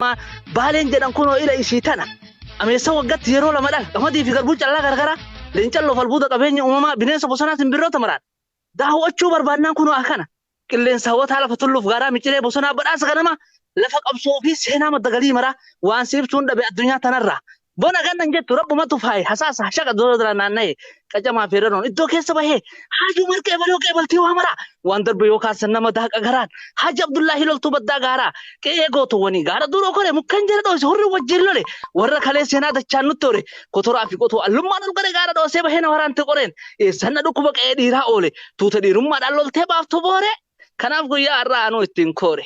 Amma baaleen jedhan kunoo ila ishii tana. Ameessa waggatti yeroo lama dhala. Qamadii fi garbuu callaa garagaraa. Leencan loof albuuda qabeenya uumamaa bineensa bosonaa simbirroota maraan. Daawwachuu barbaadnaan kunoo akana. Qilleensa hawwataa lafa tulluuf gaaraa miciree bosonaa badhaasa ganamaa. Lafa qabsoo fi seenaa madda galii maraa. Waan si ibsuun dhabe addunyaa tanarraa. Bona ganna hin jettu rabbumatu faaye hasaasa hashaqa dodo dala naannaye qacamaa fi ranoon iddoo keessa bahee haajuu marqa ebaloo qeebaltii waa maraa waan darbe yoo kaarsan nama daaqa garaan haaji abdullaahi loltuu baddaa gaaraa qe'ee gootuwwanii gaara duuroo kore mukkeen jala dhoose hurri wajjin lole warra kalee seenaa dachaan nutti hore kotoraa fi qotuu allummaan ol godhe gaara dhoosee bahee na waraante qoreen eessanna dhukkuba qe'ee dhiiraa oole tuuta dhiirummaadhaan loltee baaftu booree kanaaf guyyaa har'aa anuu ittiin koore.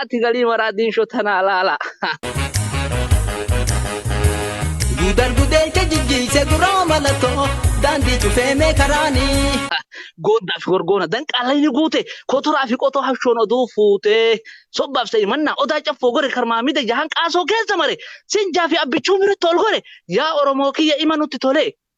Ati galii maraa diinshoo tanaa laalaa. Guutar gudeelcha jijjiise guraa malatoo daandii cufee mee karaanii. Gooddaa fi gorgoona danqaala inni guute kotoraa fi qotoo hashoon oduu fuutee sobbaaf sa'i mannaa odaa caffoo gore karmaa mida jahan qaasoo keessa mare sinjaa fi abbichuu miratti ol gore yaa oromoo kiyya ima nutti tolee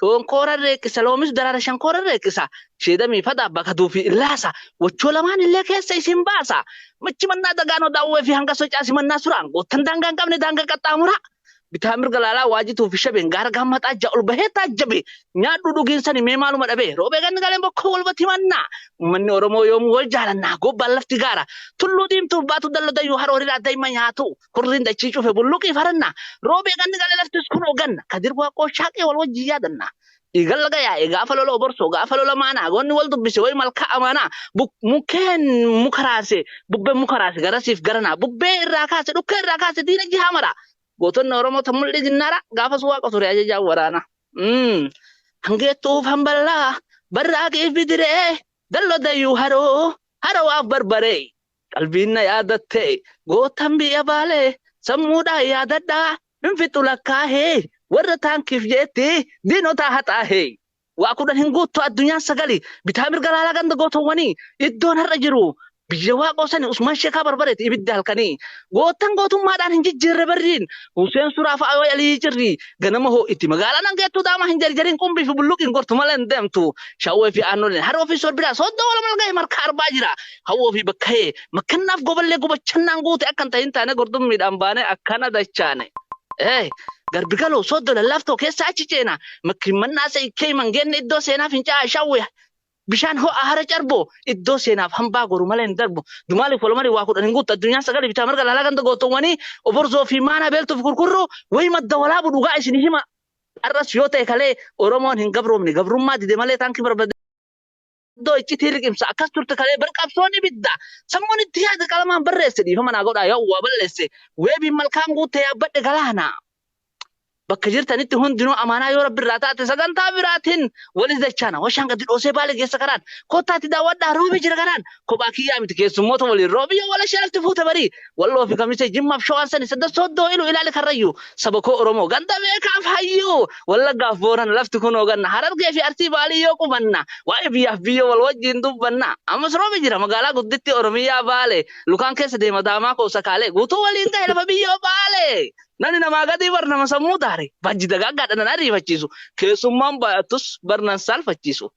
Shoonkooran reeqqisa loomis daraara shankooran reeqqisa sheedamii fadhaa bakaduu fi illaasa wachoo lamaan illee keessa isin baasa machi mannaa dagaanoo daawwee fi hanga socaa simannaa suraan goottan daangaa hin qabne daangaa qaxxaamuraa bitaa mirga laalaa waajituu fi shabeen gaara gaammaxaa ija ol bahee taajjabe nyaadhuu dhugiin sani mee maaluma dhabee roobee ganni galeen bokkoo wal batimannaa ummanni oromoo yoomuu wal jaalannaa gobbaan lafti gaara tulluu diimtuuf baatu dallo dayyuu haroo hiriraa daa'ima nyaatuu Hurriin dachii cufe bulluqii faranna. Roobee ganni gale laftis kunoo ganna. Kadir Waaqoo shaaqee wal wajjin yaadanna. Dhiigan laga yaa'e gaafa lola oborsoo gaafa lola maanaa goonni wal dubbise wayi malkaa amaanaa. Buk- Mukkeen muka raase bubbeen muka raase garasiif garanaa. Bubbee irraa kaase dhukkee irraa kaase diina jihaa maraa. Gootonni Oromoo tan mul'ii ginnaara gaafas waaqa ture ajajaan waraana. Mm. Hangeettuuf hamballaa barraaqiif bidiree dallo dayyuu haroo harowaaf barbaree. Qalbiin na yaadatte gootan biyya Baalee sammuudhaan yaadadhaa hin fixu lakkaahee warra taankiif jeetti diinotaa haxaahee. Waa kudhan hin guuttu addunyaan sagali bitaa mirga laalaa ganda gootowwanii iddoon har'a jiru biyya waaqoo sani Usmaan Sheekaa Barbareeti ibidda halkanii. Gootan gootummaadhaan hin jijjiirre barriin Huseen Suraa fa'aa yoo yalii cirrii ganama hoo'iti magaalaa nan geettu daamaa hin jarjariin qumbii fi bulluqiin gortu malee hin deemtu shawwee fi aannoleen haroo fi sorbidhaa sooddoo walamal gahe markaa arbaa jira hawwoo fi bakka'ee makkannaaf goballee gubachannaan guute akka hin tahin taane gurdummiidhaan baanee akkana dachaane. Ee, garbi galoo, sooddo lallaaftoo keessa achi ceena, makkimmannaa seekkee himan geenne iddoo seenaa fincaa'aa shawwee, bishaan ho'aa hara carboo, iddoo seenaaf hambaa goru malee hin darbu. Dumaaliif walamarii waa kudhan hin guuttu addunyaan sagalii bitaa mirga laalaa ganda gootoowwanii oborzoo fi maanaa beeltuu fi kurkurruu wayi madda walaabu dhugaa isinii hima. Har'as yoo ta'e kalee Oromoon hin gabroomne gabrummaa dide malee taankii barbade. Iddoo iccitii liqimsa akkas turte kalee bar qabsoon ibidda. Sammuun itti yaada qalamaan barreesse dhiifama naa godhaa yoo waa balleesse weebiin malkaan guutte yaabbadhe galaana. Bakka jirtanitti hundinuu amaanaa yoo rabbi irraa taate sagantaa biraatiin walis dachaana. Washaan gadi dhoosee baale geessa kanaan kottaatti daawwadhaa roobi jira kanaan kophaa kiyyaa miti keessummoota waliin roobi yoo walashaa lafti fuute barii. Walloo fi Kamisee, Jimmaaf Shawaan sani sadda soddoo ilu ilaali karrayyuu. Saba koo Oromoo, ganda beekaaf hayyuu. Wallaggaaf Boorana, lafti kunoo ganna. Harargee fi Arsii Baalii yoo qubanna. Waa'ee biyyaaf biyyoo wal wajjiin dubbanna. Ammas roobi jira magaalaa guddittii Oromiyaa Baalee. Lukaan keessa deema daamaa koo sakaalee. Guutuu waliin gahe lafa biyyoo Baalee. Namni namaa gadii bar nama sammuu daare. Bajji dagaaggaadha nan ariifachiisu. Keessummaan baay'attus bar nan saalfachiisu.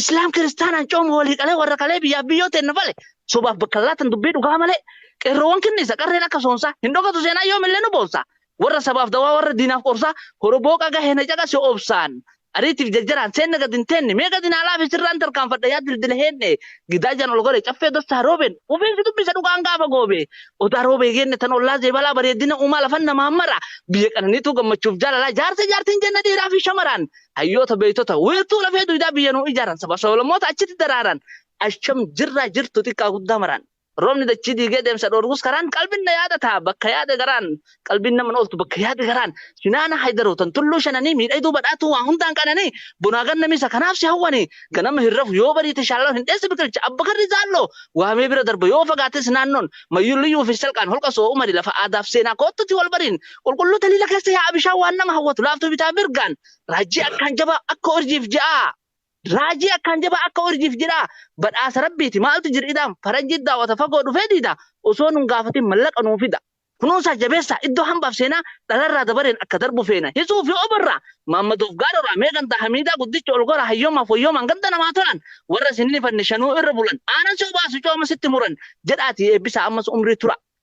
Islaam kiristaanaan cooma walii qalee warra qalee biyyaaf biyyoo teenna fale sobaaf bakka laatan dubbii dhugaa malee qeerroowwan kinniisa qarreen akka soonsaa hin dhokatu seenaa yoomillee nu boonsaa warra sabaaf dawaa warra diinaaf qorsaa horoboo qaga heena caqase obsaan ariitiif jarjaraan seenna gad hin teenne mee gadi naalaa fi sirraan tarkaanfadha yaa dildila heenne gidaa jaan ol gore caffee dastaa roobeen ofiin si dubbisa dhugaan gaafa goobe odaa roobee geenne tan ollaa zeebalaa bareedina uumaa lafan namaa mara biyya qananiituu gammachuuf jaalalaa jaarsa jaartiin jenna dhiiraa fi shamaraan hayyoota beektota wiirtuu lafee duydaa biyya nuu ijaaran saba sablammoota achitti daraaran asham jirraa jirtu xiqqaa guddaa maraan roobni dachii diigee deemsa dhoorgus karaan qalbiin na yaada ta'a bakka yaade garaan qalbiin nama ooltu bakka yaade garaan sinaana haydaroo tan tulluu shananii miidhagduu badhaatuu waa hundaan qananii bonaa gannamiisa kanaaf si hawwanii ganama hin rafu yoo bariite shaalloon hin dheessi biqilcha abba karri zaalloo waamee bira darba yoo fagaates naannoon mayyulliyyuu fi salqaan holqa soo umari lafa aadaaf seenaa koottuti wal bariin Qulqulluu taliila keessa yaa'a bishaan waan nama hawwatu laaftuu bitaa mirgaan raajii akkaan jabaa akka urjiif ji'aa raajii akkaan jabaa akka urjiif jidhaa badhaasa rabbiiti maaltu jir'idhaan faranjii daawwata fagoo dhufee diida osoo nun gaafatin mallaqa nuu fida kunuunsaa jabeessaa iddoo hambaaf seenaa dhalarraa dabareen akka darbu feena hisuu fi obarraa maammadoof gaaroraa mee gandaa hamiidaa guddicha ol goraa hayyoomaaf wayyoomaan ganda namaa tolaan warra isin nifanne shanuu irra bulan aanan si obaasu cooma sitti muran jedhaatii eebbisaa ammas umrii tura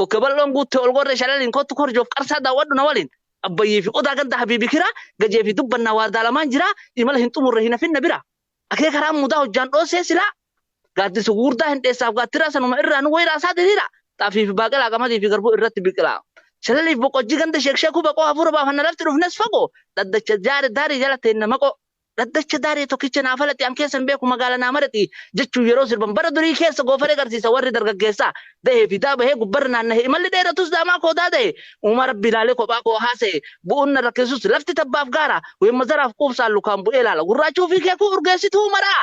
kokke bal'oon guutte ol gorree shalaliin kottu korjoof qarsaa daawwadhu na waliin abbayyee fi odaa ganda habiibi kiraa gajee fi dubbannaa waardaa lamaan jiraa imala hin xumurre hin hafin na bira akee karaan mudaa hojjaan dhoossee silaa gaaddisa gugurdaa hin dheessaaf gaattiraa sanuma irraa nu wayiraa isaa diriiraa xaafii fi baaqelaa qamadii fi garbuu irratti biqilaa shalaliif boqojjii ganda sheekshee kuba qoo hafuura baafanna lafti dhufnes fagoo dhaddacha jaare daarii jala teenna maqoo Dhaddacha Daaree tokkicha naa falati an keessan beeku magaala naa marati jechuun yeroo sirban bara durii keessa goofaree garsiisa warri dargaggeessaa dahee fidaa bahee gubbarra naannahe imalli dheeratus daamaa koo daadahe uumaa rabbi ilaalee kophaa koo haasahe bu'uun na rakkisus lafti tabbaaf gaara weemma zaraaf quubsaan lukaan bu'ee laala gurraachuu fi keekuu urgeessituu maraa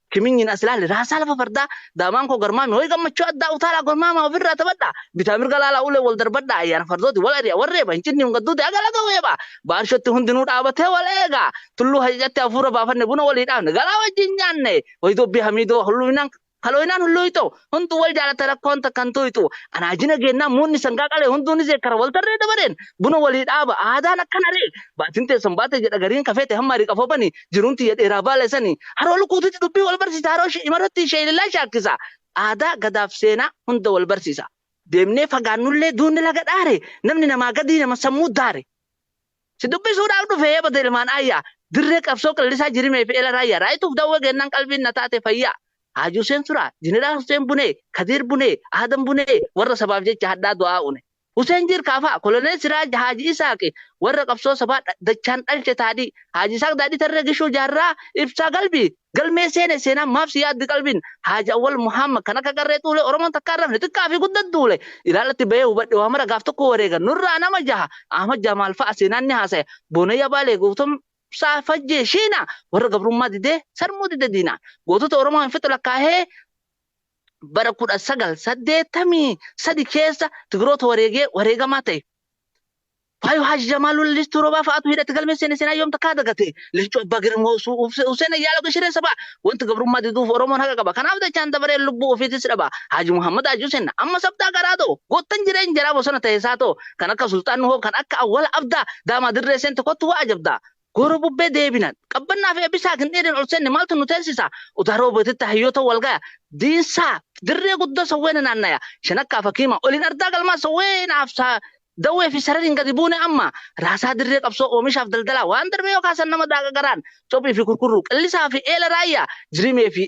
Kiminyin as ilaali raasaa lafa fardaa daamaan koo garmaami hoy gammachuu addaa utaalaa gormaamaa ofirraa taphadhaa bitaa mirga laalaa ulee wal darbadhaa ayyaana fardooti wal ari'a wal reeba hin cinni hin gadduuti aga laga weebaa baarshootti hundinuu dhaabatee wal eegaa tulluu hajajatti hafuura baafanne buna walii dhaafne galaa wajjin nyaanne hoy dubbii hamiidoo hulluminaan kalooyinaan hulluuyxoo Hunduu wal jaalata rakkoon takka hin tuyxu. Anaa jina geennaan muunni sangaa qalee hunduu ni zeekkara wal tarree dabareen buna walii dhaaba. Aadaan akkana ree! Baatiin teessan baate jedha gariin ka feete hammaari qafoo bani. Jiruun tiyya dheeraa baala isani. Haroo lukuutitti dubbii wal barsiisa haroo shi'imarratti sheelilaa shaakkisa. Aadaa, gadaaf seenaa hunda wal barsiisa. Deemnee fagaannullee duunni laga dhaare. Namni namaa gadii nama sammuu daare. Si dubbisuudhaaf dhufe Heebota ilmaan Aayyaa. Dirree qabsoo Qillisaa Jirimee fi Ela Raayyaa. Raayituuf dawwee geennaan qalbiin na taate fayyaa. Haaji Huseen Suraa, Jeneraal Huseen Bunee, Kadiir Bunee, Aadam Bunee warra sabaaf jecha hadhaa du'aa une. Huseen Jiirkaa fa'a, Koloneel Siraaj, Haaji Isaaqi warra qabsoo sabaa dachaan dhalche Taadii, Haaji Isaaq Daadhii Tarree Gishuu Jaarraa, Ibsaa Galbii, Galmee seene seenaan maaf si yaaddi qalbiin Haaji Awwal Muhammad kan akka qarree xuulee Oromoon takka hin rafne xiqqaa fi guddan duule ilaallatti bahee hubadhe waa mara gaaf tokko wareegan nurraa nama jaha Ahmad Jamaal fa'a seenaan ni haasaya Boonayyaa Baalee Gootomsaa Fajjee Shiinaa warra gabrummaa didee sarmuu dide diinaan gootota Oromoo hin fixu lakkaahee bara 1983 keessa Tigiroota wareegee wareegamaa ta'e. Faayo Haji Jamaaluu Listuu Roobaa fa'aatu hidhatti galmee seene seenaa yoom takkaa dagate. Leencoo Abbaa Girmoo Su- Uf- Huseen Ayyaaloo Gashiree Sabaa wanti gabrummaa diduuf Oromoon haqa qaba. Kanaaf dachaan dabaree lubbuu ofiitis dhaba. Haji Muhammad Haji Huseen amma sabdaa garaa ta'u goottan jireen jaraa bosona ta'e isaa ta'u kan akka Sulxaan Nuhoo kan akka Awwala Abdaa daamaa dirree seente kottu waa ajabdaa. Gooroo bubbee deebinaan. Qabbannaa fi Eebbisaa gindhiiriin ol seenne maaltu nu teessisa? Udaa Roobetitti hayyoota wal gaya. Diinsaa, dirree guddoo sawweena naannaya. Shanakkaa fi Hakiima, oliin ardaa galmaa sawweena hafsaa Dawwee fi Sarariin gadi buune amma. Raasaa dirree qabsoo oomishaaf daldalaa. Waan darbe yoo kaasan nama daaqa garaan. Cophii fi Kurkurruu, Qillisaa fi Eela Raayyaa, Jirimee fi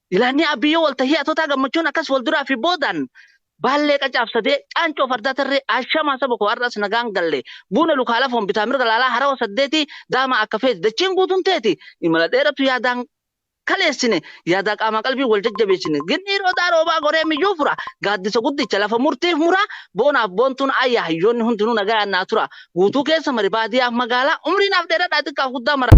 Ilaannii Aabbiyyoo Waltahii Atotaa Gammachuun akkas walduraa fi boodaan Baallee Qacaaf Sadee, Caancoo Fardaa Tarree, Ashamaa saba koo har'as nagaan galle, Buuna Lukaa Lafoon bitaa mirga laalaa Harawa Saddeetii, Daamaa akka feeti dachiin guutuun teeti, Imala dheeratu yaadaan kaleessine, Yaadaa qaamaa qalbiin wal jajjabeessine, Gin'ii roodaa roobaa goree miyyuu fura, Gaaddisa guddicha lafa murtiif mura, Boonaaf boontuun aayya hayyoonni hundinuu nagayaan naa tura, Guutuu keessa mari baadiyaaf magaalaa, Umrii naaf dheeradhaa xiqqaaf guddaa maraa.